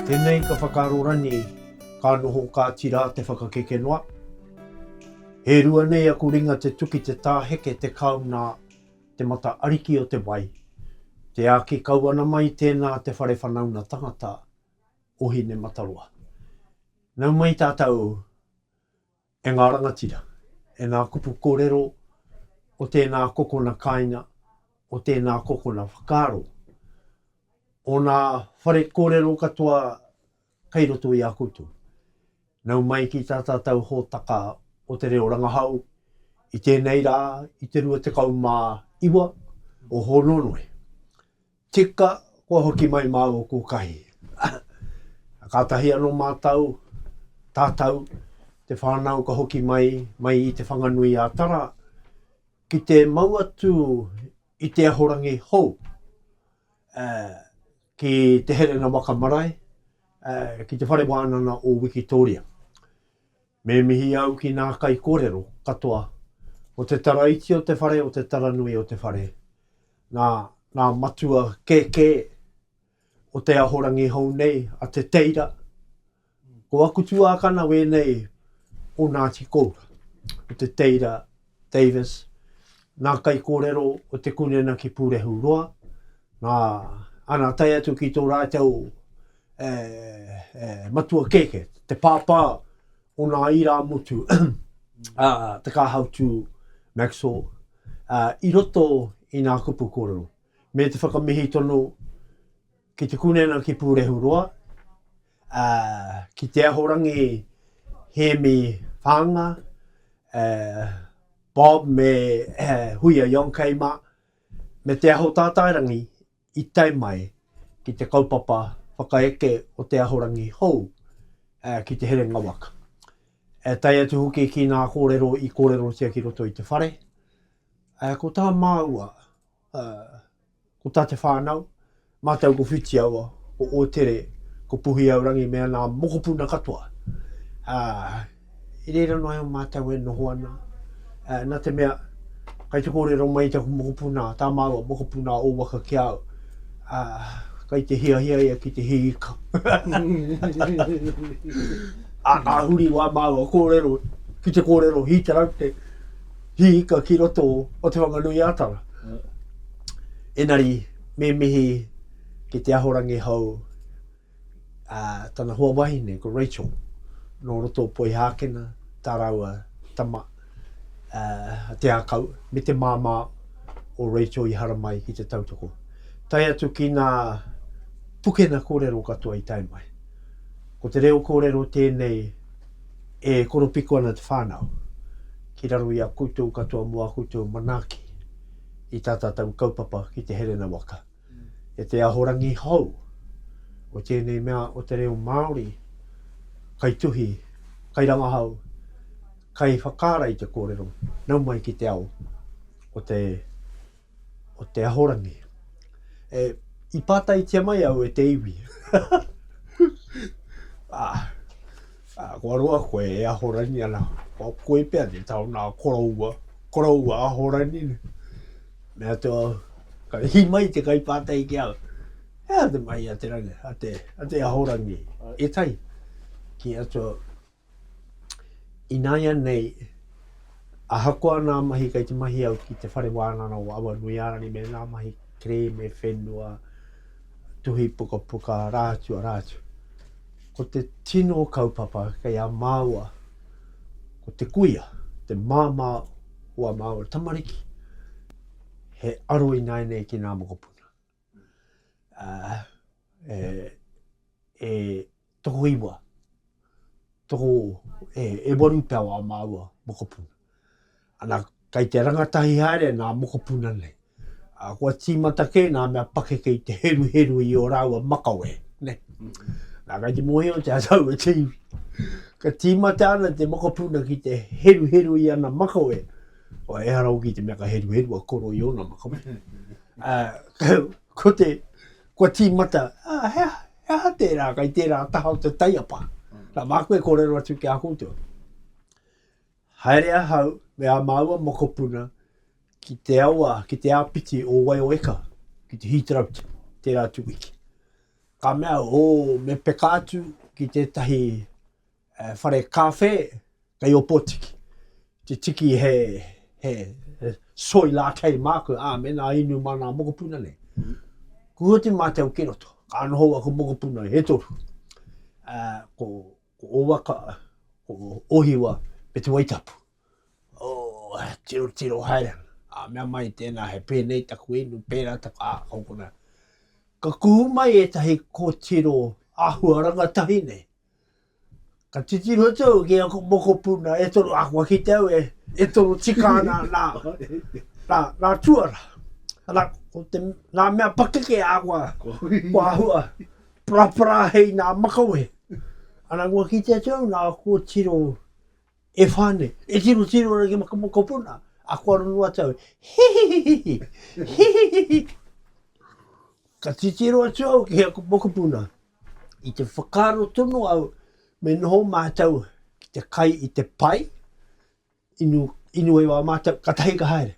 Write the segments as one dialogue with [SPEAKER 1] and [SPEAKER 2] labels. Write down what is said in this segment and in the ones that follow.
[SPEAKER 1] Tenei ka whakaaro ranei, ka noho kati ra te whakakeke noa. He rua nei aku ringa te tuki te ta heke te kau na te mata ariki o te wai. Te aki kau ana mai tena te whare whanauna tangata o Hinemataroa. Nau mai tatou E ngā rangatira, e ngā kupu korero o tēnā kokona kāinga, o tēnā kokona whakaaro, o nā whare korero katoa kei roto i a koutou, nau mai ki tā tātau hōtaka o te reo rangahau i tēnei rā, i te 29 o Hōnonoe, Tika, kua hoki mai māua ko Kahi. Kātahi anō mātau, tātau, te whānau ka hoki mai, mai i Te Whanganui a Tara, ki te mau atu i te ahorangi hou, uh, ki te Herena Waka Marae, uh, ki te Whare Wānana o Wikitōria. Me mihi au ki nā kaikōrero katoa o te tara iti o te whare, o te tara nui o te whare, nā, ngā matua kēkē o te ahorangi hou nei, a Te Teira. Ko aku tuākana wēnei o Ngāti Koura, o Te Teira Davis, ngā kaikōrero o Te Kunena ki Pūrehu Roa, ngā, ana tae atu ki tō rātou e, e, matua kēkē, te pāpā o nā irāmutu, a, Te Kāhautū Maxwell, a, i roto i nā kupu kōrero. Me te whakamihi tonu ki Te Kunena ki Pūrehu Roa, ā, ki te Ahorangi Hēmi Whaanga, ā, Bob me Huia Yonkei mā, me Te Aho Tātairangi i tae mai ki te kaupapa whakaeke o te ahorangi hou, ā, ki te herenga waka. Ā, tae atu hoki ki ngā kōrero i kōrerotia ki roto i te whare, ā, ko tā māua, ā, Ko tā te whānau, mātou ko Whitiaua, ko Ōtere, ko Puhiaurangi me ana mokopuna katoa. Ā, i reira noa iho mātou e noho ana, ā, nā te mea, kei te kōrero mai taku mokopuna, tā māua mokopuna o waka ki a au, ā, kei te hiahia ia ki te hī ika. Ā, ka huri wā māua kōrero ki te kōrero hītaraute. He ika ki roto o Te Whanganui-a-Tara. Engari, me mihi ki te ahorangi hou, a, tana hoa wahine, ko Rachel, nō roto o Poihākena, tā rāua tama, a, Te Ākau, me te māmā o Rachel i haramai ki te tautoko. Tae atu ki ngā pukena kōrero katoa i tae mai. Ko te reo kōrero tēnei e koropiko ana te whānau. ki raro i a koutou katoa mō ā koutou manaaki i tā tātou kaupapa ki te herena waka. E te Ahorangi hou o tēnei mea o te reo Māori, kai tuhi, kai rangahau, kai whakaara i te kōrero, nau mai ki te ao o te o te Ahorangi. E, i pātaitia mai au e te iwi. a, a, kua roa koe e Ahorangi ana, kua koe pia te tau nā koroua, koroua Ahorangi. Mea te au, ka hi mai te kai pātai ki au. Hea te mai a te rangi, a te, a te Ahorangi, e tai. Ki atua, Ināianei, ahakoa ngā mahi kei te mahi au ki Te Whare Wānanga o Awanuiārani me ngā mahi kerēme whenua, tuhi pukapuka, rā atu, arā atu, ko te tino kaupapa kei a māua ko te kuia, te māmā o ā māua tamariki, he aro ināianei ki ngā mokopuna. Uh, e, e, Tokoiwa, toko, e, e waru pea wā māua mokopuna. Ana, kei te rangatahi haere nā mokopuna nei. A, kua tīmata kē nā mea pakeke i te heruheru i ō rāua makawe, nē. Nā, kei te mōhiotia taua te iwi. Ka tīmata ana te mokopuna ki te heruheru i ana makawe, kua ehara hoki te mea ka heruheru a koro i ōna makawe. Ā, Ko te, kua tīmata, ā, he aha, he aha tērā kei tērā taha o te taiapa? Nā, māku e kōrero atu ki a koutou. Haere ahau me ā māua mokopuna ki te awa, ki te āpiti o Waiōeka, ki te Heathroat, tērā atu wiki. Ka mea au, ō, me peka atu ki tētahi Eh, whare kawhe, kei Opotiki. Te tiki he, he, he soi la kei māku, āmen, a inu mā nā mokopuna nei. Ku hoti mātou ki roto, ka noho aku mokopuna he toru. Uh, ko, ko Owaka, ko Ohiwa, me te Waitapu. Oh, tiro tiro haere. A mea mai tēnā he pēnei taku inu, pērā taku, ah, kau kona. Ka kuhu mai e tahi kōtiro āhua rangatahi nei. Ka titiro atu au ki aku mokopuna e toru, ahakoa ki te au e, e toru tika ana nā, nā, nā tuara. Arā, ko te, ngā mea pakeke ahakoa kua āhua parapara hei nā makawe. Ana kua kitea atu au nā, kua tiro e whā nei. E tirotiro ana ki aku mokopuna, ā, kua rongo atu au, Hihihihi! Hihihihi! Ka titiro atu au ki aku mokopuna, I te whakaaro tonu au me noho mātou ki te kai i te pai, inu, inu e wā mātou, ka tahi ka haere.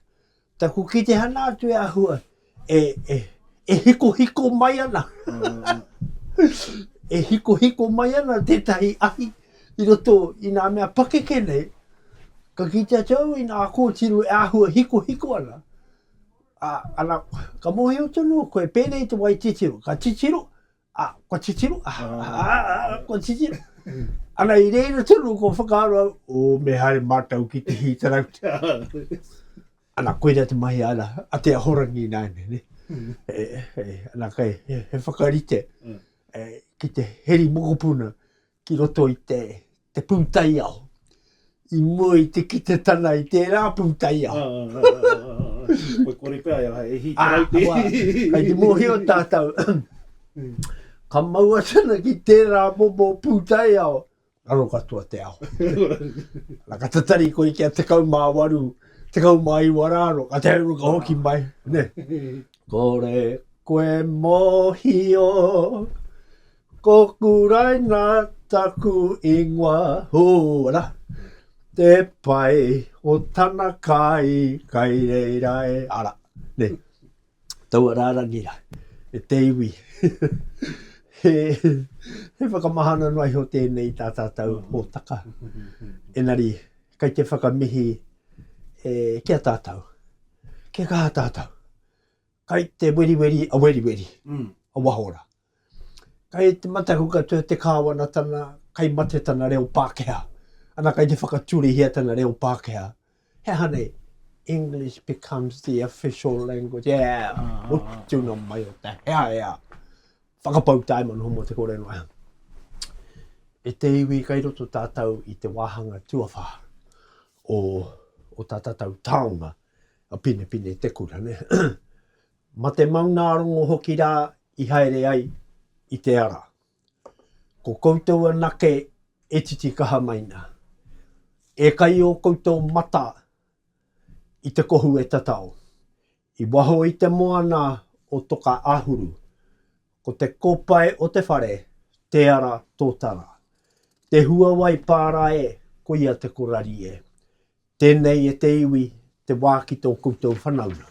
[SPEAKER 1] Taku ki te hana atu e ahua, e, e, e hiko hiko mai ana. e hiko hiko mai ana tētahi ahi i roto i nā mea pakeke nei, ka kite atu au i nā kōtiro e ahua hiko hiko ana, Ā, ana, ka mōhio tonu koe, pēnei te wai titiro, ka titiro, ā, kua titiro, ā, kua titiro. Ana, i reira tonu kua whakaaro au, ō, me haere mātou ki te hītarauta. Ana, koirā te mahi ana, a te ahorangi ināianei, nē. E, e, ana, kei, he, he whakarite, e, ki te heri mokopuna, ki roto i te, te pūtaiao, i mua i te kite tana i tērā pūtaiao. Ah, ah, ah, ah, ah, ah.
[SPEAKER 2] Koe kore pea, e hai, e hī Ah, tarau te. wā, kai te mōhio
[SPEAKER 1] tātou, ka maua tana ki tērā momo pūtaiao, raro katoa te ao. Nā, ka tatari koe kia tekau mā waru, tekau mā iwa rā ro, ka te hauru ka hoki mai, ne. Kore koe mōhio, Ko Kuraina taku ingoa hūra, te pai o tana kai kai reira e ara. Nei, taua rārangi rā, e te iwi. He, he whakamahana noa iho tēnei tā tātou hōtaka. Engari, kai te whakamihi e, ki a tātou. Kia kaha tātou. Kai te weriweri a weriweri, a wahora. Mm. Kei te mataku katoa te Kāwanatanga, kei mate tana reo Pākehā, ana kei te whakaturehia tana reo Pākehā. He aha nei? English becomes the official language. E, hoki tuna mai o te hea hea. Whakapau tae manu homo te kore noa. E te iwi kai roto tātou i te wāhanga tuawha o, o tā tātou taonga, a Pinepine te kura, ne? Ma te maunaarongo hoki ra i haere ai i te ara. Ko koutou anake e titikaha mai na. E kai o koutou mata i te kohu e tatao. I waho i te moana o Toka Ahuru, ko te kopae o te whare, te ara totara. Te huawai pa ra e, koia te korari e. Tēnei e te iwi te wā ki tō koutou whanaunga.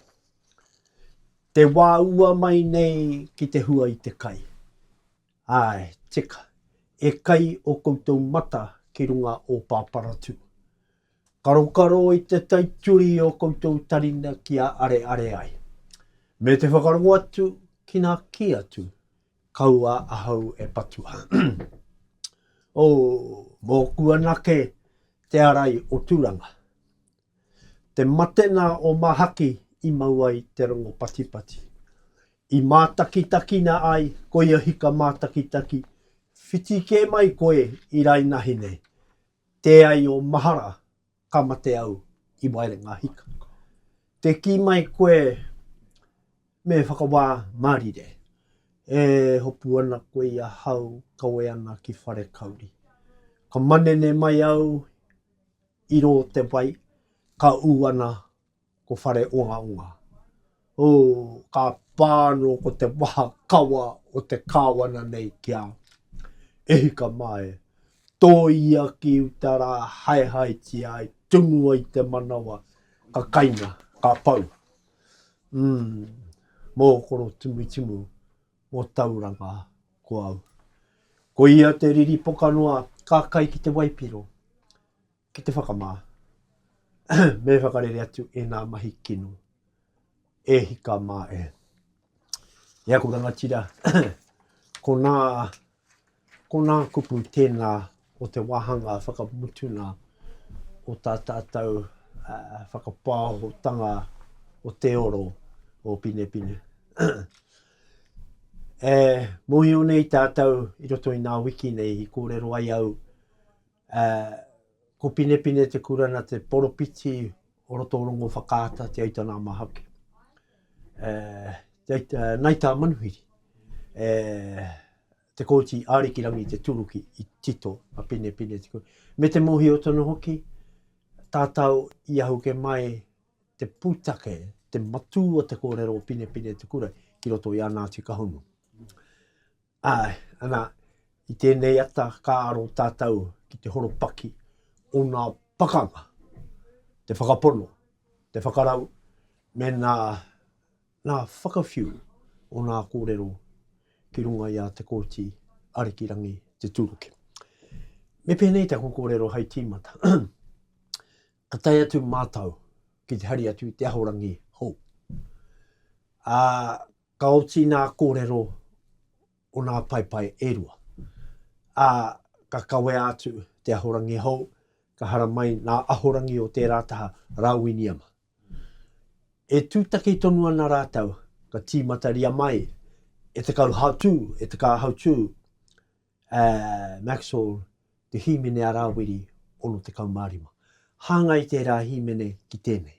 [SPEAKER 1] Te wā ua mai nei ki te hua i te kai. Āe, tika, e kai ō koutou mata ki runga o Pāparatū. Karokaro i te taituri i ō koutou taringa kia areare ai. Me te whakarongo atu ki nā kī atu Kaua ahau e patua. Oh, mōku anake te arai o Turanga. Te mate nā o Mahaki i mau ai te rongo patipati. I mātakitakina ai koia hika mātakitaki, whiti kē mai koe i rainahi nei, tē ai o mahara, ka mate au i Wairengahika. Te kī mai koe me whakawā mārire, e hopu ana koe i ahau, kawe ana ki Wharekauri. Ka manene mai au i rō te wai, ka ū ana Ko whare ongaonga. Ooh, ka pa ano ko te waha kawa o te kawana nei kia E hika ma e, to ia ki uta ra haehaetia ai tunu ai te manawa ka kainga, ka pau. Umm, mo koro timutimu, mo Tauranga ko au. Ko ia te riri pokanoa ka kai ki te waipiro. Ki te whakamā, me whakarere atu ēnā mahi kino e hika mā e. E aku rangatira, konā, konā kupu tēnā o te wāhanga whakamutuna o tā tātou uh, whakapāohotanga o te oro o Pinepine. e mohio nei tātou i roto i ngā wiki nei i kōrero ai au Ā, ko Pinepine te Kurana te poropiti o roto o Rongowhakaata, Te Aita nā Mahaki. Ā, Te Aita, Nai tā Manuhiri, e, te kōti Ārikirangi te turuki i tito a Pinepine te Kurana. Me te mōhio tonu hoki, tātau i ahuke mai te pūtake, te matū o te kōrero o Pinepine te Kurana ki roto i ana atu kahunu. Āe, ana, i tēnei ata ka aro tātou ki te horopaki o ngā pakanga, te whakapono, te whakarau, me ngā, ngā whakawhiu o ngā kōrero ki runga i a Te Kooti Arikirangi Te Tūruki. Me pēnei taku kōrero hai tīmata, ka tae atu mātou ki te hari atu i te Ahorangi hou, ā, Ka oti nā kōrero o nā paepae e rua, ā, ka kawea atu te ahorangi hou, ka haramai nā ahorangi o tērā taha rā Winiama. E tūtaki tonu ana rātou, ka tīmataria mai e te kauhautū, e te kāhautū, a Maxwell te hīmene a Rāwiri 65. Hāngai tērā hīmene ki tēnei.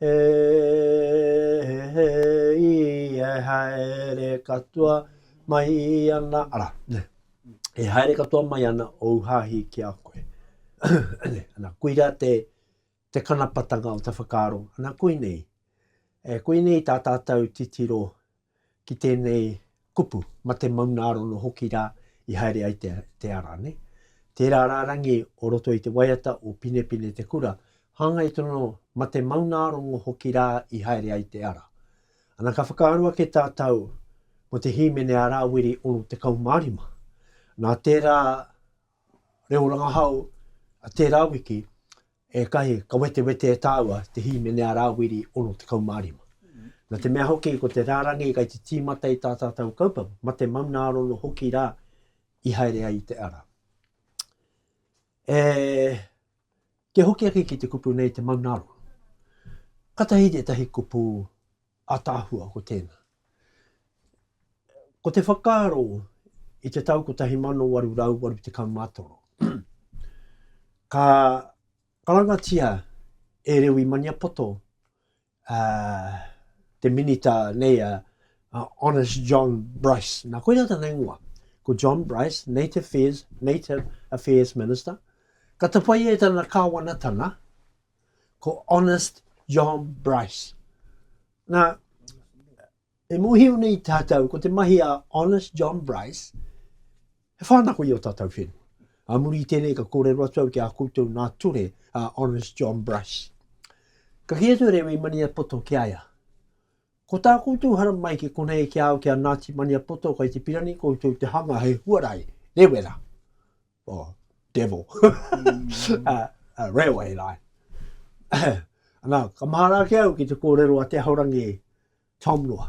[SPEAKER 1] He he i e haere katoa mai ana, ara, ne, e haere katoa mai ana ou hahi ki a koe. ne, ana, koira te, te kanapatanga o te whakaaro, ana koinei, e koinei tā tātou titiro ki tēnei kupu, mate maunārono hoki rā i haere ai te, te ara, ne? Tērā rārangi o roto i te waiata o Pinepine te kura, hāngai tonu mate maunārongo hoki rā i haere ai te ara. Ana ka whakaaro ake tātau mō te hīmene a Rāwiri 65. Nā tērā reo rangahau a tērā wiki, Ētahi ka wetewete e tāua te hīmene a Rāwiri 65. Nā te mea hoki ko te rārangi kei te tīmata i tā tātou kaupapa, mate maunarono hoki rā i haere ai i te ara. E kī hoki ake ki te kupu nei te maunarono. Katahi tētahi kupu Ataahua ko tēnā. Ko te whakaaro i te tau 1883, ka karangatia e Rewi Maniapoto, uh, te minita nei a uh, Honest John Bryce. Nā, koira tana ingoa. Ko John Bryce, Native Affairs, Native Affairs Minister. Ka tapaia e tana kāwanatanga, ko Honest John Bryce. Nā, e mohio nei tātou, ko te mahi a Honest John Bryce, he whānako i o tātou whenua. A muri i tēnei ka kōrero atu au ki a koutou nā ture a Honest John Bryce. Ka ki atu rewe i Maniapoto ki aia. Ko tā koutou hara mai ki konei ki au ki a Nāti Maniapoto kai te pirani koutou te hanga he huarai, rewera. or devil, a, a railway line. Anā, ka mahara ake au ki te kōrero a Te Ahorangi Tom Noa.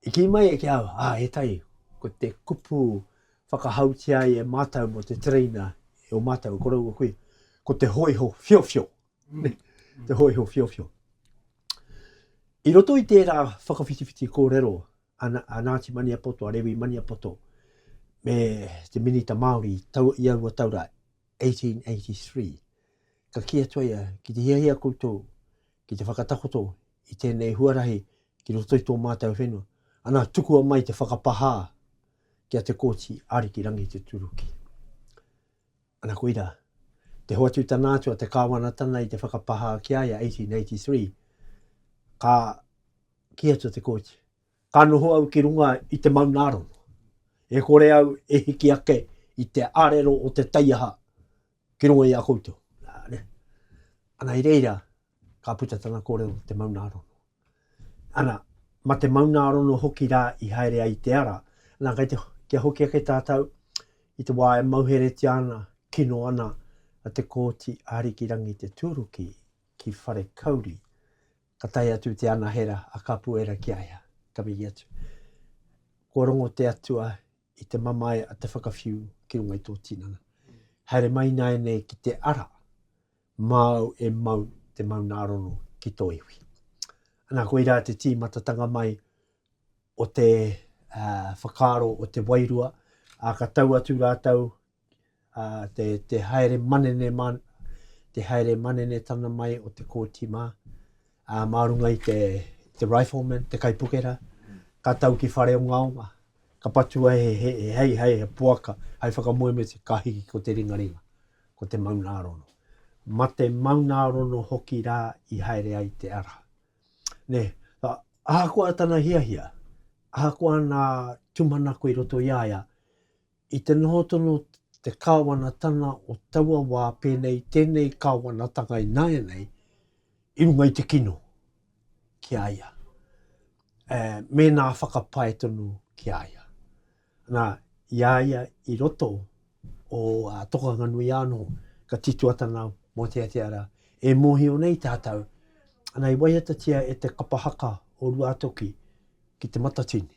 [SPEAKER 1] I ki mai e ki au, ā, e tai, ko te kupu whakahautia ai e mātou mo te tereina e o mātou e koroua kui, ko te hoiho whiowhio. Mm. te hoiho whiowhio. I roto i tērā whakawhitiwhiti kōrero a Ngāti Maniapoto, a Rewi Maniapoto, me te Minita Māori i aua tau rā, 1883. Ka kī atu a ia, ki te hiahia koutou ki te whakatakoto i tēnei huarahi ki roto i tō mātou whenua, ana tukua mai te whakapahā ki a Te Kooti Ariki Rangituturuki. Ana koira, te hoatu tana atu a te kāwanatana i te whakapahā ki a ia, 1883, ka Kī atu te kōiti, Ka noho au ki runga i te maungārongo. E kore au e hiki ake i te arero o te taiaha ki runga i a koutou. Ana i reira, ka puta tana kōrero te maungārongo. Ana, ma te maungārongo hoki rā i haere ai te ara. Ana, kei te, kia hoki ake tātou i te wā e mauheretia ana, kino ana a te kōiti a Arikirangi te tūruki ki Wharekauri. Ka tae atu te anahera a Kapuera ki a ia, ka miri atu, Kua rongo te Atua i te mamae a te whakawhiu ki runga i tō tinana. Haere mai nāianei ki te ara, māu e mau te maunārono ki tō iwi. Anā, koirā te tīmatatanga mai o te uh, whakaaro o te wairua, ā, ka tau atu rātou ā, te, te haere manene mā, te haere manene tana mai o te kōti mā, ā, mā runga i te, te rifleman, te kaipukera, ka tau ki whare o Ngaonga, ka patua he, he, he hei, hei, he poaka, hei whakamoemiti, ka hiki ko te ringaringa, ko te maunārono. Ma te maunārono hoki rā i haere ai te ara. Ne, a, ahakoa tana hiahia, ahakoa nā tumanako i roto i a ia, I te noho tonu te Kāwanatanga o taua wā pēnei tēnei Kāwanatanga ināianei i runga i te kino ki a ia, e, mēnā whakapae tonu ki a ia. Nā, i a ia i roto o uh, Tokanganui anō, ka tituatana mō Te Ateara, e mōhio nei tātou, ana i waiatatia e te kapa haka o Ruatoki ki te matatini.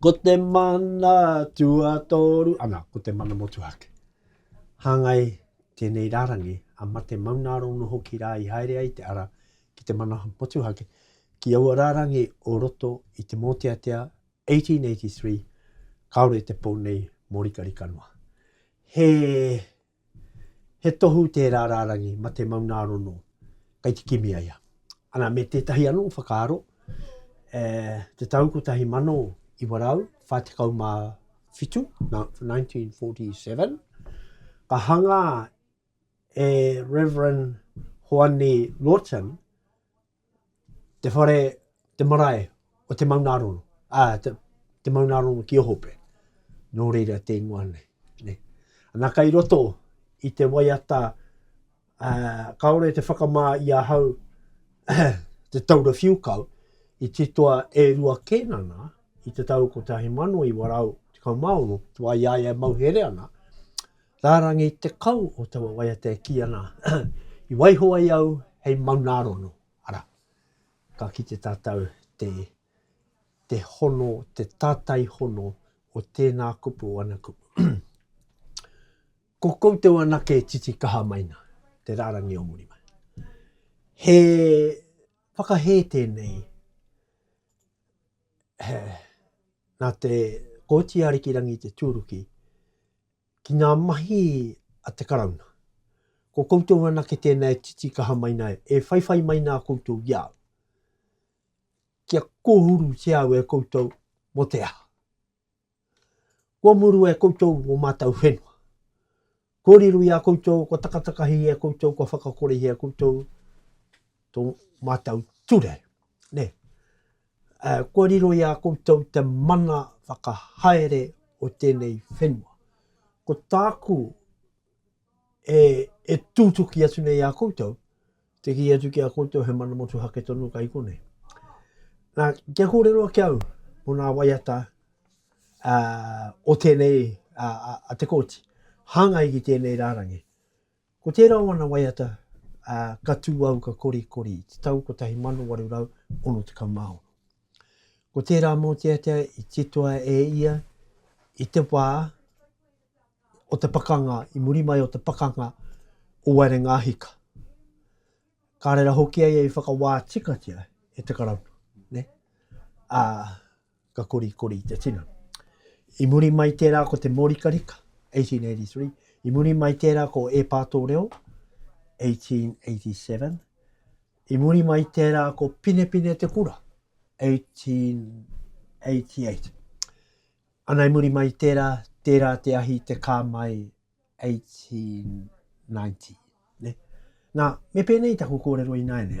[SPEAKER 1] Ko te mana tuatoru, ana, ko te mana motuhake. Hāngai tēnei rārangi a Mate Maunaarono hoki rā i haere ai te ara ki te mana motuhake ki aua rārangi o roto i te mōteatea 1883, kāore te pou nei mōrikarika noa. He He tohu tērā rārangi mate maungārono kei te kimi ai a. Ana me tētahi anō whakaaro, e te tau 1947, 1947, ka hangā e Rev. Hoani Lawton te whare, te marae o te Maungarono, ā, te, te Maungarono ki Ohope. Nō reira te ingoa nei. nei. Ana kai roto i te waiata, ā, kaore te whakamā i a hau te taura whiukau i titoa e rua kēnana i te tau 1916, tua i a ia e mauhere ana, Rārangi tekau o taua waiata e kī ana, I waiho ai au hei maunārono, arā, ka kite tātou te, te hono, te tātai hono o tēnā kupu, o ana kupu. Ko koutou anake e titikaha mai nā te rārangi o muri mai. He whakahē tēnei, he, nā te Kōti Ārikirangi te tūruki, ki ngā mahi a te Karauna. Ko koutou anake tēnā e titikaha mai nei, e whaiwhai mai nā koutou i a au. Kia kōhurutia au e koutou mō te aha? Kua murua e koutou o mātou whenua. Kua riro i a koutou, kua takatakahi i a koutou, kua whakakorehi i a koutou tō mātou ture. Nē, Kua riro i a koutou te mana whakahaere o tēnei whenua. Ko tāku e, e tūtuki atu nei i a koutou, te kī atu ki a koutou he mana motuhake tonu kai konei. Nā, kia kōrero ake au mō nā waiata uh, o tēnei uh, a te kōti, hāngai ki tēnei rārangi. Ko tērā o ana waiata ka tū au ka korikori i te tau 1866. Ko tērā mōteatea i titoa e ia i te wā o te pakanga, i muri mai o te pakanga o Wairengāhika. Ka reira hoki a ia i whakawā tikatia e te Karauna. Nē? Ā. ka korikori i te tino. I muri mai tērā ko te mōrikarika, 1883, i muri mai tērā ko E Pātō Reo, 1887, i muri mai tērā ko Pinepine Te Kura, 1888. Ana i muri mai tērā, tērā te ahi te kā mai, 1890. Ne? Nā, me pēnei taku kōrero i nāianei.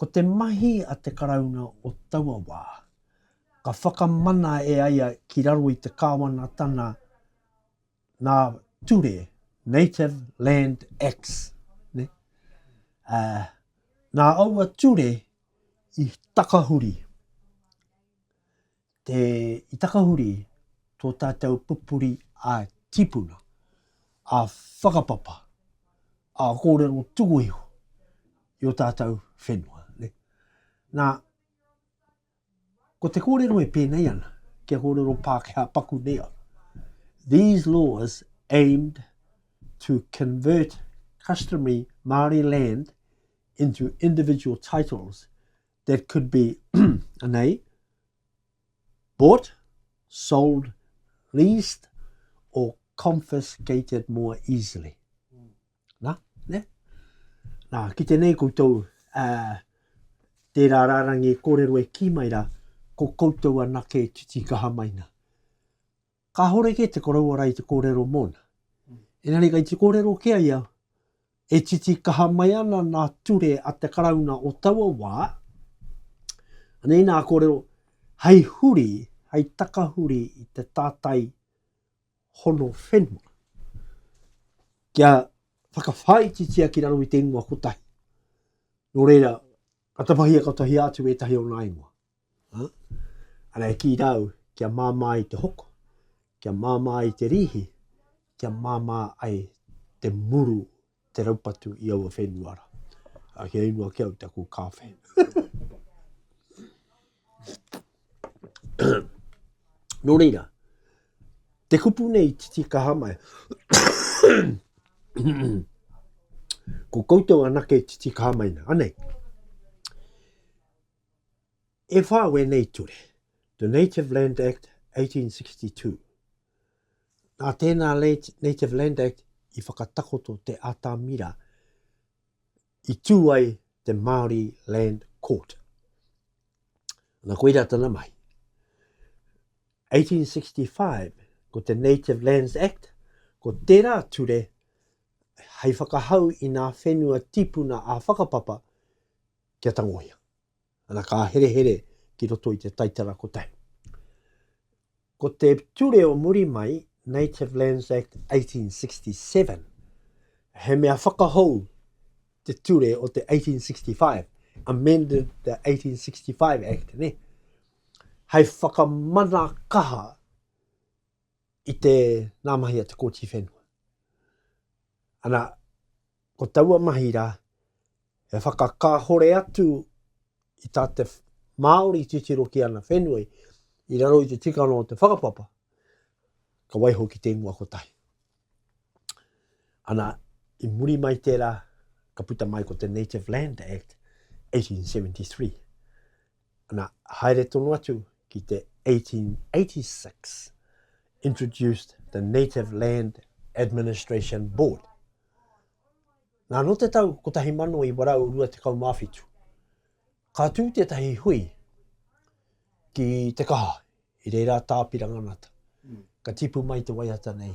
[SPEAKER 1] Ko te mahi a te Karauna o taua wā, ka whakamana e aia ki raro i te Kāwanatana nā ture, Native Land Acts, ne? Ā, nā aua ture i takahuri. Te, i takahuri tō tātou pupuri ā-tīpuna, ā-whakapapa, ā-kōrero tuku iho i ō tātou whenua. Ne? Nā, ko te kōrero e pēnei ana, kia kōrero Pākehā paku nei au. These laws aimed to convert customary Māori land into individual titles that could be anei, bought, sold, leased, or confiscated more easily. Nā, ne? Nā, ki tēnei koutou, uh, tērā rārangi e kōrero e kī mai rā, ko koutou anake e titikaha mai nā. Kāhore kē te koroua rā i te kōrero mōna. Engari kei te kōrero ki a ia, e titi kaha mai ana nā ture a te Karauna o taua wā, anei nā kōrero, hei huri, hei takahuri i te tātai hono whenua, kia whakawhāititia ki raro i te ingoa kotahi. Nō reira, ka tapahia, ka tahia atu ētahi o nā ingoa. Ā, ara e kī rā au, Kia māmā ai te hoko, kia māmā ai te rīhi, kia māmā ai te muru, te raupatu i aua whenua rā. Ā, kia ingoa ki au te aku kāwhe. Nō reira, te kupu nei i titi kaha mai. Ko koutou anake i titi kaha mai nei, anei? E whā wēnei ture, The Native Land Act 1862. Nā tēnā Native Land Act i whakatakoto te atamira i tū ai te Māori Land Court. Nā koira tana mahi. 1865, ko te Native Lands Act, ko tērā ture hei whakahau i ngā whenua tipuna ā-whakapapa kia tangohia. Ana ka herehere ki roto i te taitara kotahi. Ko te ture o muri mai, Native Lands Act 1867, he mea whakahou te ture o te 1865, amended the 1865 Act, ne? Hai whakamana kaha i te nā mahi a te kōti whenua. Ana, ko taua mahi rā, e whakakāhore atu i tā te Māori titiro ki ana whenua i raro i te tikanga o te whakapapa, ka waiho ki te ingoa kotahi. Ana, i muri mai tērā, ka puta mai ko te Native Land Act 1873. Ana, haere tonu atu ki te 1886, introduced the Native Land Administration Board. Nā, no te tau 1927, ka tū tētahi hui ki te kaha, i reira tā Piranganata. Ka tipu mai te waiata nei,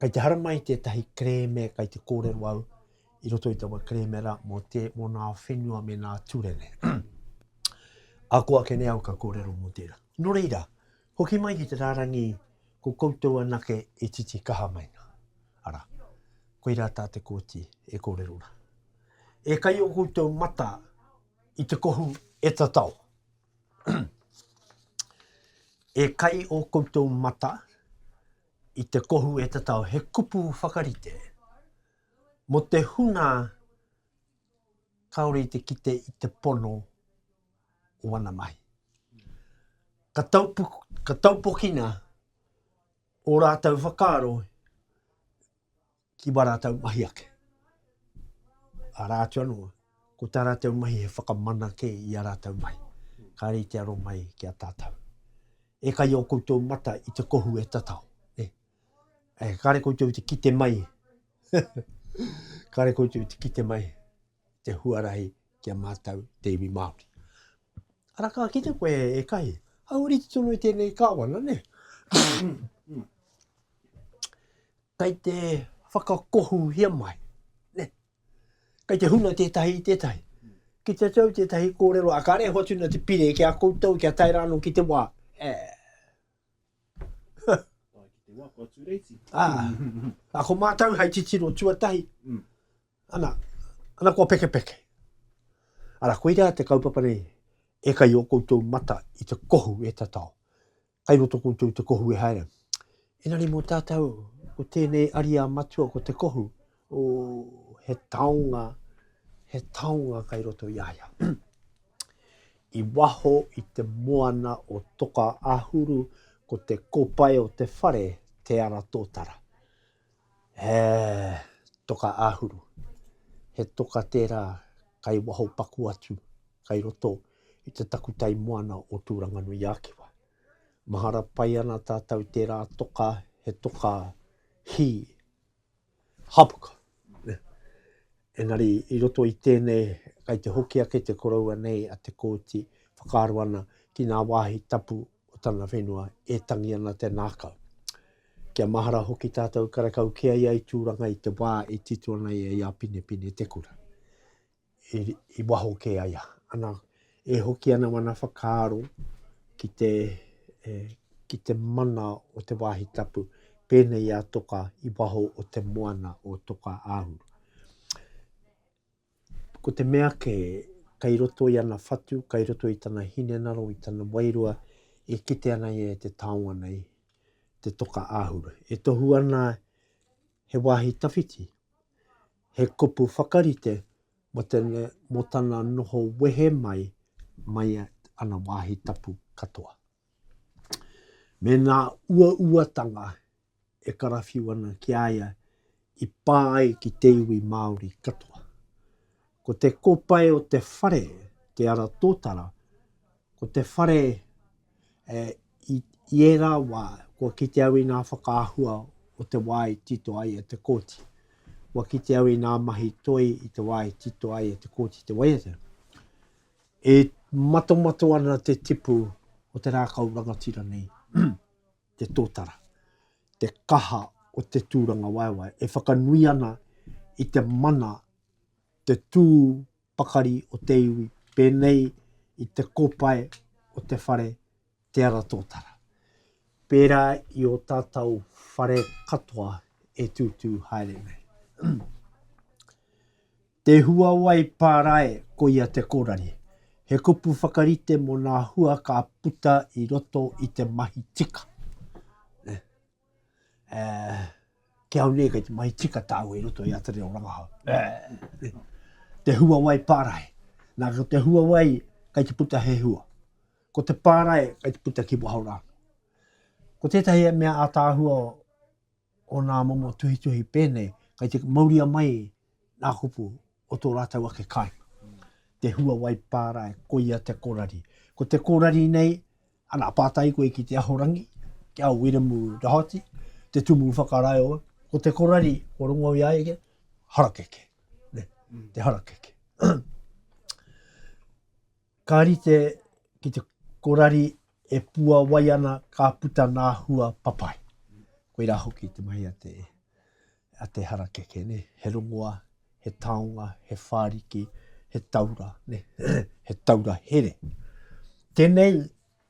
[SPEAKER 1] Kei te haramai tētahi kerēme kei te kōrero au i roto i taua kerēme rā mō te mō nā whenua me nā turene. A ko ake nei au ka kōrero mō tērā. Nō reira, hoki mai ki te rārangi ko koutou anake e titi kaha mai nā. Arā, koirā tā te kōti e kōrero rā. E kai o koutou mata i te kohu e tatao. e kai o koutou mata i te kohu e te tao, he kupu whakarite mo te hunga kaore i te kite i te pono o wana mahi. Ka, taupu, ka taupokina o rātou whakaaro ki wā rātou mahi ake. Arā atu anō, ko tā rātou mahi he whakamana kē i a rātou mahi. Kāre i te aro mai ki a tātou. E kai o koutou mata i te kohu e tatao. E, e kāre koutou i te kite mai. kāre koutou i te kite mai. Te huarahi ki a mātou te iwi Māori. Ara kā kite koe e kai. Hau riti tono i tēnei kāwana, ne? Kei te whakakohuhia mai, nē. Kei te huna tētahi i tētahi. Ki te tau tētahi kōrero, ā, kāre e hoatu ana te pire ki a koutou kia tae rā anō ki te wā, ē. Tae ki te wā, kua tū reiti. Ā, ā, ko mātou hei titiro tuatahi, ana, ana kua pekepeke. Arā, koirā te kaupapa nei e kai i ō koutou mata i te kohu e tatao. Kai roto koutou te kohu e haere. Engari mo tatou, ko tenei aria matua ko te kohu, o, he taonga, he taonga kai roto i aia. I waho i te moana o Toka Ahuru, ko te kopae o te whare, Te Ara Totara. He toka āhuru, he toka tērā kai waho paku atu, kai roto i te takutai moana o Tūranganui-ā-Kiwa. Mahara pai ana tātou i tērā toka, he toka hī, hapuka. Engari, i roto i tēnei, kai te hoki ake te koroua nei a Te Kooti, whakaaro ana ki ngā wāhi tapu o tana whenua e tangi ana te nākau. Kia mahara hoki tātou karekau kē ai ai Tūranga i te wā e tito ana ia i a Pinepine-te-kura, i waho kē ai ana. E hoki ana wana whakaaro ki te, e, ki te mana o te wāhi tapu, pēnei i a Toka i waho o te moana o Toka Āhuru. Ko te mea kē, kei roto i ana whatu, kei roto i tana hinengaro, i tana wairua, e kite ana ia e te taonga nei, te Toka Āhuru. E tohu ana he wāhi tawhiti, He kupu whakarite mō tēnei, mō tana noho wehe mai, mai ana wāhi tapu katoa. Me nā uauatanga e karawhiu ana ki a ia i pā ai ki te iwi Māori katoa. Ko te kōpae o te whare, Te Ara Tōtara, ko te whare i ērā wā, kua kite au i ngā whakaahua o te wā i tito ai e te kōti. Kua kite au i ngā mahi toi i te wā i tito ai e te kōti te waiata. E matomato ana te tipu o te rākau rangatira nei, te tōtara, te kaha o te tūrangawaewae, e whakanui ana i te mana, te tū pakari o te iwi, pēnei i te kopae o te whare Te Ara Tōtara, pērā i ō tātau whare katoa e tūtū haere nei. Te huawai pārae ko ia te kōrari, he kupu whakarite mō ngā hua ka puta i roto i te mahi tika. Ki au nei kei te mahi tika tāua i roto i a Te Reo Rangahau. Te huawai pārae. Nā, ko te huawai kei te puta he hua. Ko te pārae kei te puta ki waho rānō. Ko tētahi e mea ātaahua o nā momo tuhituhi pēnei, kei te mauria mai nā kupu o tō rātou ake kāinga. Te huawai pārae, koia te korari. Ko te korari nei, ana, pātai koe ki te ahorangi, ki a Wiremu Rahoti, te tumu whakaraeo, ko te korari, ko rongo i aia kia, harakeke. Ne, mm. te harakeke. Ka rite ki te korari e pua wai ana ka puta nā hua papai. Koirā hoki te mahi a te a te harakeke, ne, he rongoa, he taonga, he whāriki, he taura, ne, he taura here. Tēnei,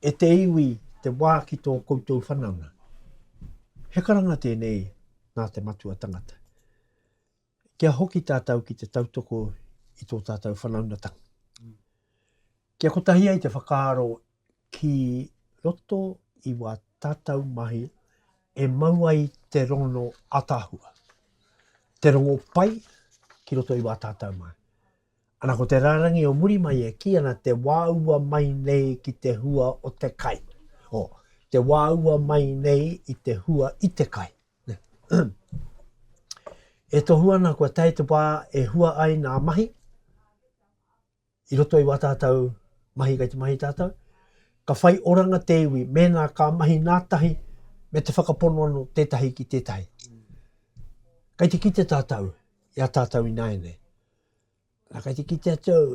[SPEAKER 1] e te iwi, te wā ki tō koutou whanaunga. He karanga tēnei nā te matua tangata. Kia hoki tātou ki te tautoko i tō tātou whanaungatanga. Kia kotahi ai te whakaaro ki roto i wā tātau mahi e mau ai te rongono ataahua, te rongo pai ki roto i wā tātau mahi. Ana ko te rārangi o muri mai e kī ana te wāua mai nei ki te hua o te kai. O, te wāua mai nei i te hua i te kai. e tohu ana kua tae te wā e hua ai nā mahi, i roto i wā tātou mahi kei te mahi tātou, ka whai oranga te iwi mēnā ka mahi nā tahi me te whakapono anō tētahi ki tētahi. Kei te kite tātou i a tātou ināianei. Nā, kei te kite atu au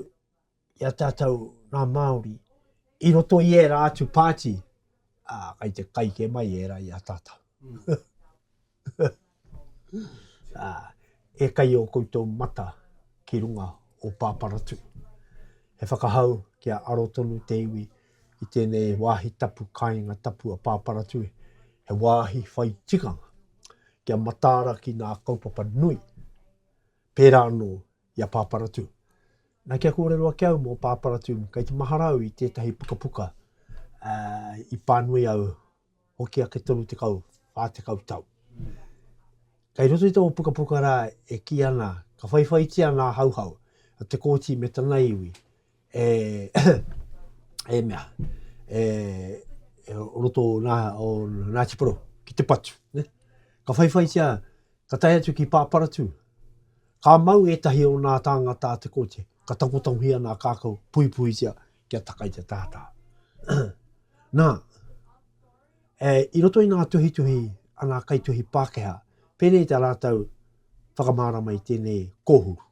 [SPEAKER 1] i a tātou ngā Māori i roto i ērā atu pāti, ā, kei te kai kē mai ērā i a tātou. E kai ō koutou mata ki runga o Pāparatū. He whakahau kia aro tonu te iwi i tēnei wāhi tapu kāinga tapu a Pāparatū, he wāhi whai tikanga kia mataara ki ngā kaupapa nui, pērā anō i a Pāparatū. Nā kia kōrero ake au mō Pāparatū, kei te mahara au i tētahi pukapuka i pānui au hoki ake tonu tekau, whā tekau tau. Kei roto i tō pukapuka rā e kī ana, ka whaiwhaitia nā Hauhau, te kōti me tana iwi, e, e mea, e, e roto o nā, o nā Tiporo, ki te patu. Ne? Ka whaiwhaitia, ka tae atu ki Pāparatu, ka mau ētahi o nā tāngata a te kōti, ka takotakohia nā kākau, puipuitia, kia taka i te tata. Na, e, i roto i nga tuhituhi a nga kaituhi Pakeha, penei ta ratou whakamarama i tenei kohuru.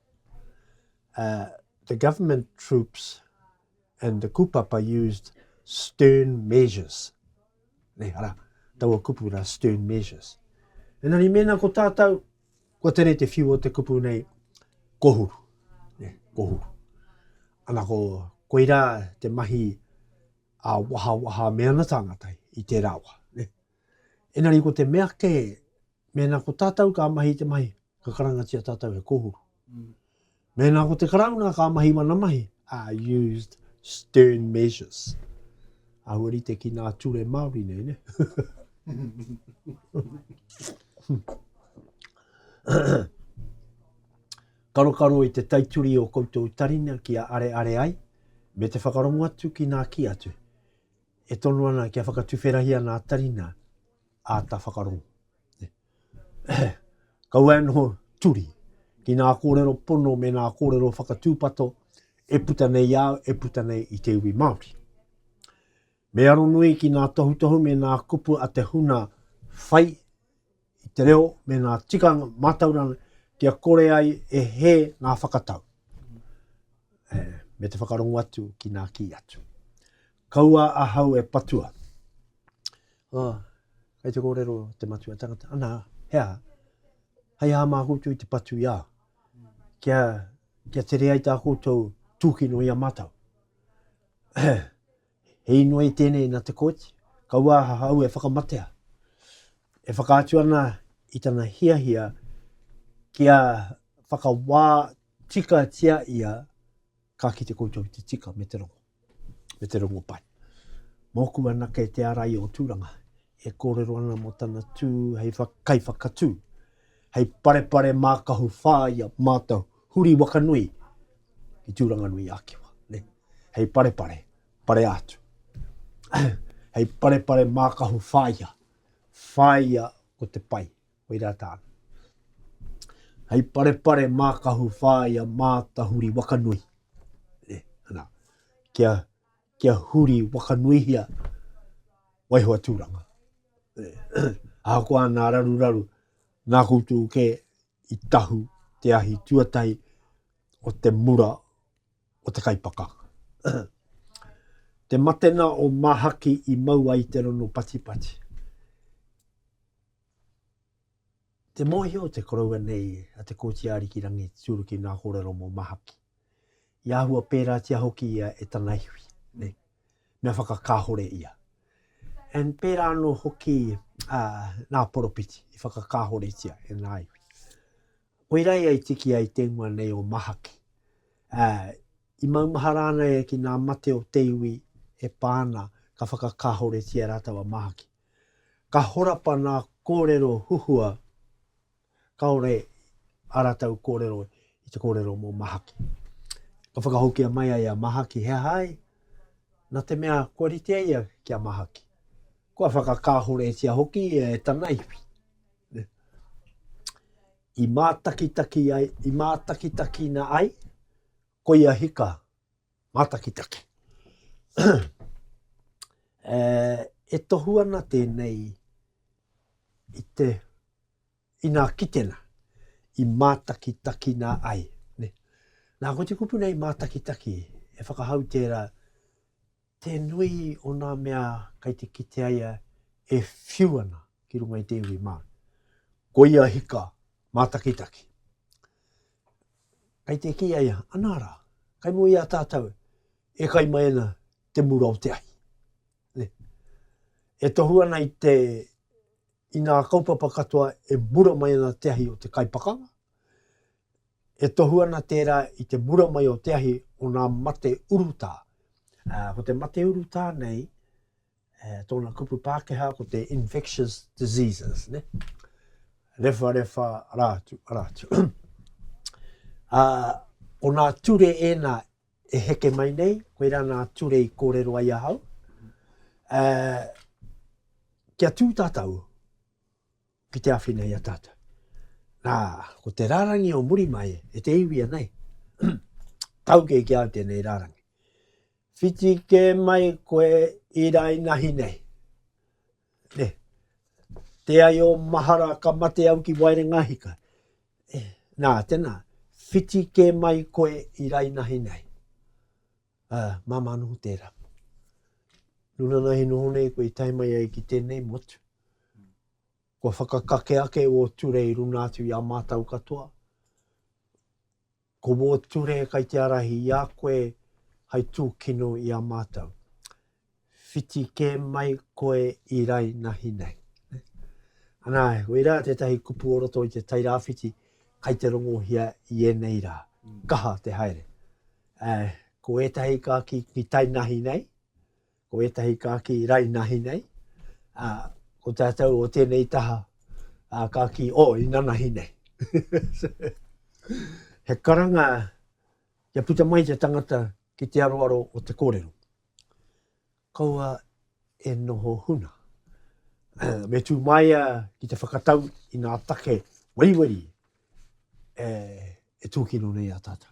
[SPEAKER 1] Uh, the government troops and the kupapa used stern measures. Nei, ara, taua kupu ra stern measures. Enari, mēnā ko tātou Kua tere te whiu o te kupu nei, kohuru, ne, kohuru. Ana ko, koirā te mahi a waha waha me ana tāngata i tērā wā. Ne? Enari ko te mea kē, mēnā ko tātou ka mahi te mahi, ka karangatia tātou he kohuru. Mm. Mēnā ko te Karauna ka mahi wana mahi, are used stern measures. Āhua rite ki nā ture Māori nei, ne? Karokaro i te taituri o koutou tarina kia areare ai, me te whakarongo atu ki nā kī atu. E tono ana kia whakatuwherahia nā tarina āta whakarongo. Kaua e noho turi ki ngā kōrero pono me ngā kōrero whakatūpato e puta nei i au, e puta nei i te iwi Māori. Me aronui ki ngā tohutohu me ngā kupu a te huna whai i te reo me ngā tikanga mātauranga kia kore ai e he ngā whakatau. E, me te whakarongo atu ki ngā kī atu. Kaua ahau e patua. Ā, kei te kōrero te matua tangata, Anā, he aha? Hei aha mā koutou i te patu i a, kia, kia tere ai tā koutou tūkino i a mātou? he inoi i tēnei nā te kōti, kaua ahau e whakamatea. E whakaatu ana i tana hiahia kia whakawā tikatia ia ka kite koutou te tika me te rongo. me te rongopai. Mōku anake te ārai o Tūranga, e kōrero ana mō tana tū hei kaiwhakatū, hei parepare mākahu whāia mātou huri waka nui ki Tūranga Nui Ākiwa. Ne? Hei parepare, pare atu. hei parepare mākahu whāia, whāia ko te pai, Koirā tāna. Hei parepare mākahu whāia mātahuri wakanui. Ne, ana, kia, kia huri wakanuihia waihoa tūranga. Ne, ahakoa nā raruraru, nā koutou ke i tahu te ahi tuatahi o te mura o te kaipakanga. te matena o Mahaki i mau ai te rono patipati. Te mōhio te koroua nei a Te Kooti Ariki Rangi Turuki ngā kōrero mō Mahaki. I āhua pērātia hoki ia e tana iwi, nei, mea whakakāhore ia. And pērā anō hoki a, ngā poropiti i whakakāhoretia e ngā iwi. Koirā ia i tiki ai tēngoa nei o Mahaki. A, i maumahara ana ia ki ngā mate o te iwi e pā ana ka whakakāhoretia rātou a Mahaki. Ka horapa nā kōrero huhua kāore ā rātou kōrero i te kōrero mō Mahaki. Ka whakahokia mai ai a Mahaki, he aha ai? Nā te mea kua ritea ia ki a Mahaki. Kua whakakāhoretia hoki ia e tana iwi. I mātakitaki ai, i mātakitakina ai, koia hika. Mātakitaki. e tohu ana tēnei i te inā kitena, i mātakitakina ai. Ne? Nā, ko te kupu nei mātakitaki, e whakahau tērā, te nui o nā mea kai te kite aia e whiu ana ki runga i te iwi Māori. Ko ia hika mātakitaki. Kai te kī a ia, Anā rā, kai mua i a tātou e kai mai ana te mura o te ahi. Ne. E tohu ana i te, i ngā kaupapa katoa e mura mai ana te ahi o te kai pakanga, e tohu ana tērā i te mura mai o te ahi o ngā mate urutā. Ā, ko te mate urutā nei, Tōna kupu Pākehā ko te infectious diseases, ne? Rewharewha rā atu, rā atu. Ā, ko nā ture ēnā e heke mai nei, koirā nā ture i kōrero ai ahau. Ā, kia tū tātou ki te awhina i a tātou. Nā, ko te rārangi o muri mai e te iwi anei, tauke ki au tēnei rārangi. Whiti kē mai koe i rainahi nei. Ne. Te ai o mahara ka mate au ki Wairengahika. E, nā, tēnā, whiti kē mai koe i rainahi nei. Uh, māmā noho tērā. Nuna nā he noho nei koe i tae mai ai ki tēnei motu. Kua whakakake ake o turei runa atu i a mātau katoa. Ko wō ture kai te arahi i a koe hai tūkino i a mātou. Whiti kē mai koe i rainahi nei. Anā, koirā tētahi kupu o roto i te Tairāwhiti kai te rongohia i ēnei rā. Kaha te haere. Ko ētahi ka kī ki tainahi nei, Ko ētahi kāki rainahi nei, ā, ko tātou o tēnei taha, ā, kāki o inanahi nei. He karanga kia puta mai te tangata ki te aroaro o te kōrero. Kaua e noho huna. Me tū mai a ki te whakatau i ngā take weriweri e, e tūkino nei a tātou.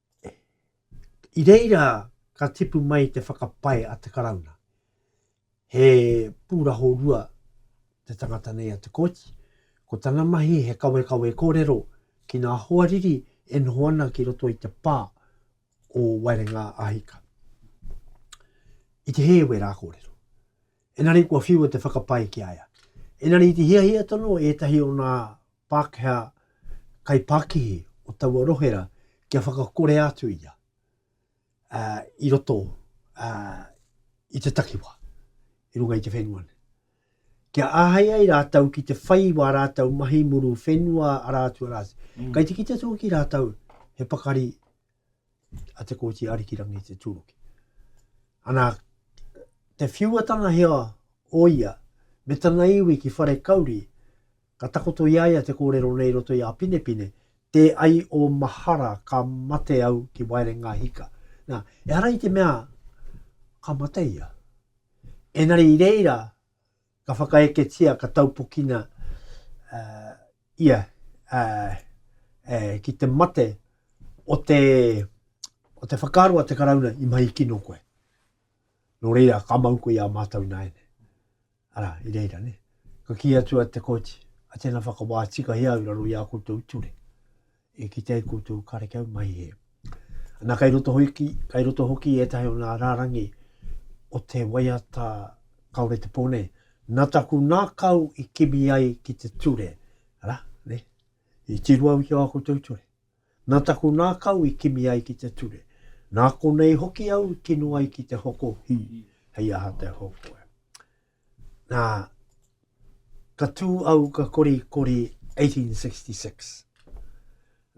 [SPEAKER 1] I reira ka tipu mai te whakapae a te Karauna. He pūraho rua te tangata nei a Te Kooti. Ko tana mahi he kawekawe kōrero ki ngā hoariri e noho ana ki roto i te pā o Waerenga a Hika. I te hēwe rā kōrero. Engari kua whiua te whakapae ki a ia. Engari i te hiahia tonu ētahi o ngā Pākehā kaipākihi o taua rohe rā kia whakakorea atu ia i roto i te takiwā, i runga i te whenua nei. Kia āhei ai rātou ki te whai wā rātou mahi muru whenua arā atu arā atu. Mm. Kai te kite tō ki rātou he pakari a Te Kooti Arikirangi Te Tūruki. Ana, te whiuatanga hea o ia, me tana iwi ki whare kauri, ka takoto i a ia te kōrero nei roto i a Pinepine, Te ai o mahara ka mate au ki waerenga hika. Nā, ehara i te mea ka mate ia. Enari i reira, ka whakaeketia, ka taupokina uh, ia uh, uh, ki te mate o te, o te whakaaro a te karauna i mahi kino koe. Nō reira, ka mau koe i a mātou nāene. Ara, i reira, ne? Ka ki atu a te koti, a tēnā whakawā tika i au raro i a koutou ture. E kitea i koutou karekau mai e. Ana kai roto hoki, kai roto hoki etahi o nga rarangi o te waiata kaore te po nei. Na taku nakau i kimi ai ki te ture, ra, ne? I tiru au ki a koutou ture. Na taku nakau i kimi ai ki te ture. Na konei hoki au i kino ai ki te hoko hi, hei aha te hoko e. Nā, ka tū au ka kori kori 1866.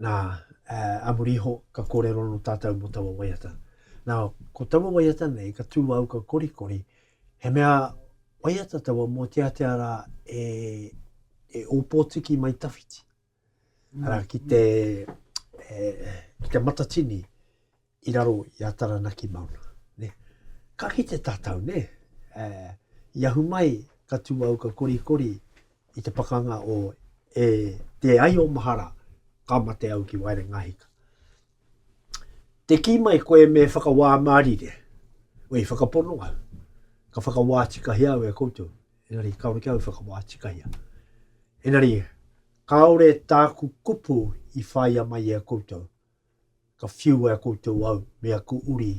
[SPEAKER 1] Nā, a muri iho ka kōrero no tātou mo taua waiata. Nā, ko taua waiata nei ka tū au ka kori kori, he mea waiata taua mō te atea rā e, e ōpōtiki mai tawhiti. Arā, ki te, e, ki te matatini i raro i a Taranaki Mauna. Ne? Ka kite tātou, ne? E, i ahu mai, ka tū au ka korikori i te pakanga o e, te ai o mahara, ka mate au ki waere ngahika. Te kī mai koe me whakawā mārire, wei whakapono au, ka whakawā tikahia au e koutou. Engari kāore kau i whakawā tikahia. Engari, kāore tāku kupu i whāia mai i a koutou, ka whiu e a koutou au me aku uri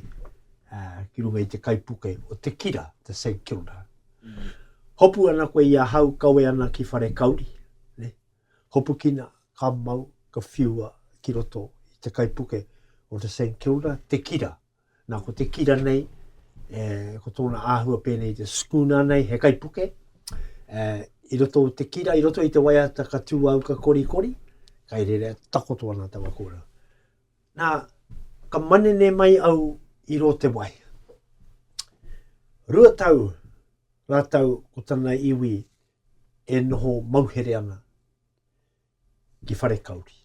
[SPEAKER 1] ki runga i te kaipuke o te kira, te St. Kilda. Mm. Hopu ana koe i ahau, kawe ana ki whare kauri. Ne? Hopu kina, ka mau, ka whiua ki roto i te kaipuke o te St. Kilda, te kira. Nā, ko te kira nei, e, ko tōna āhua pēnei i te schooner nei, he kaipuke, e, i roto te kira, i roto i te waiata ka tūauka korikori, kai rere takoto ana tawa kōrau. Nā, ka manene mai au i rō te wai. Rua tau rātau ko tana iwi e noho mauhere ana. ki Wharekauri.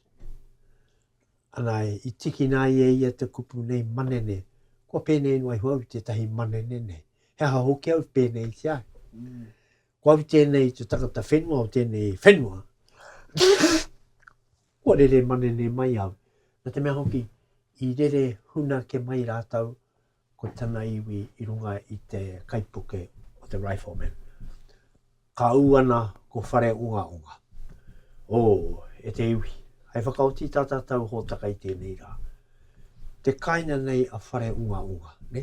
[SPEAKER 1] Ana, i tikina ai e ia te kupu nei manene, kua pēnei noa iho au i tētahi manene nei. He aha hoki au pēnei ki ai? Mm. Ko au tēnei te tangata whenua o tēnei whenua. kua rere manene mai au. Na te mea hoki, i rere huna ke mai rātau ko tana iwi i runga i te kaipuke o te Rifleman. Ka ū ana ko Whareongaonga, O, e te iwi, hai whakaoti tā tātou hōtaka i tēnei rā. Te kāinga nei a Whareongaonga, nē?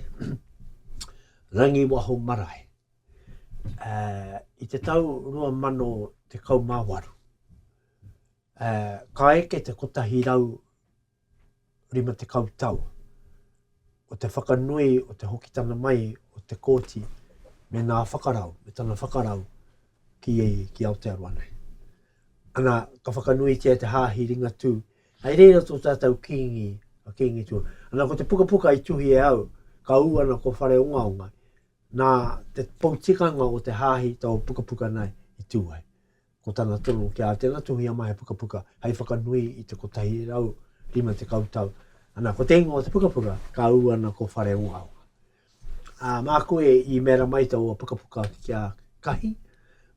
[SPEAKER 1] Rangiwaho marae. Uh, I te tau 2018, uh, ka eke te kotahi rau 50 tau o te whakanui o te hokitana mai o Te Kooti me nā whakarau, me tana whakarau ki, ki Aotearoa nei. Ana, ka whakanuitia te hāhi ringatū, hei reira tō tātou kīngi, a kīngi tū. Ana, ko te pukapuka i tuhi e au, ka ū ana ko whare ongaonga, nā te poutikanga o te hāhi tō pukapuka nei i tū ai. Ko tana tono ki a tena tuhia mahi pukapuka hei whakanui i te 150 tau. Ana, ko te ingoa o te pukapuka, ka ū ana ko Whare Ongaonga. Ā, mā koe i mēra mai taua pukapuka kia kahi,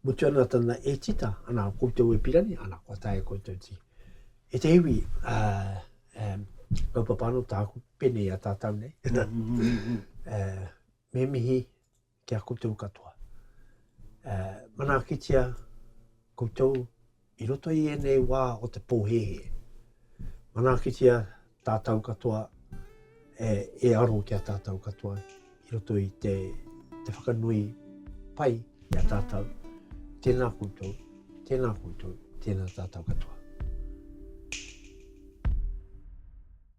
[SPEAKER 1] mutu ana tana e tita, ana, koutou e pirani, ana, kua tae e koutou ti. E te iwi, ā, um, kaupapa anō tāku, pēnei a tātau nei. Ā, me mihi kia koutou katoa e manaakitia koutou i roto i ēnei wā o te pōhēhē. Manaakitia tātou katoa e, e aro ki a tātou katoa i roto i te, te whakanui pai i a tātou. Tēnā koutou, tēnā koutou, tēnā tātou katoa.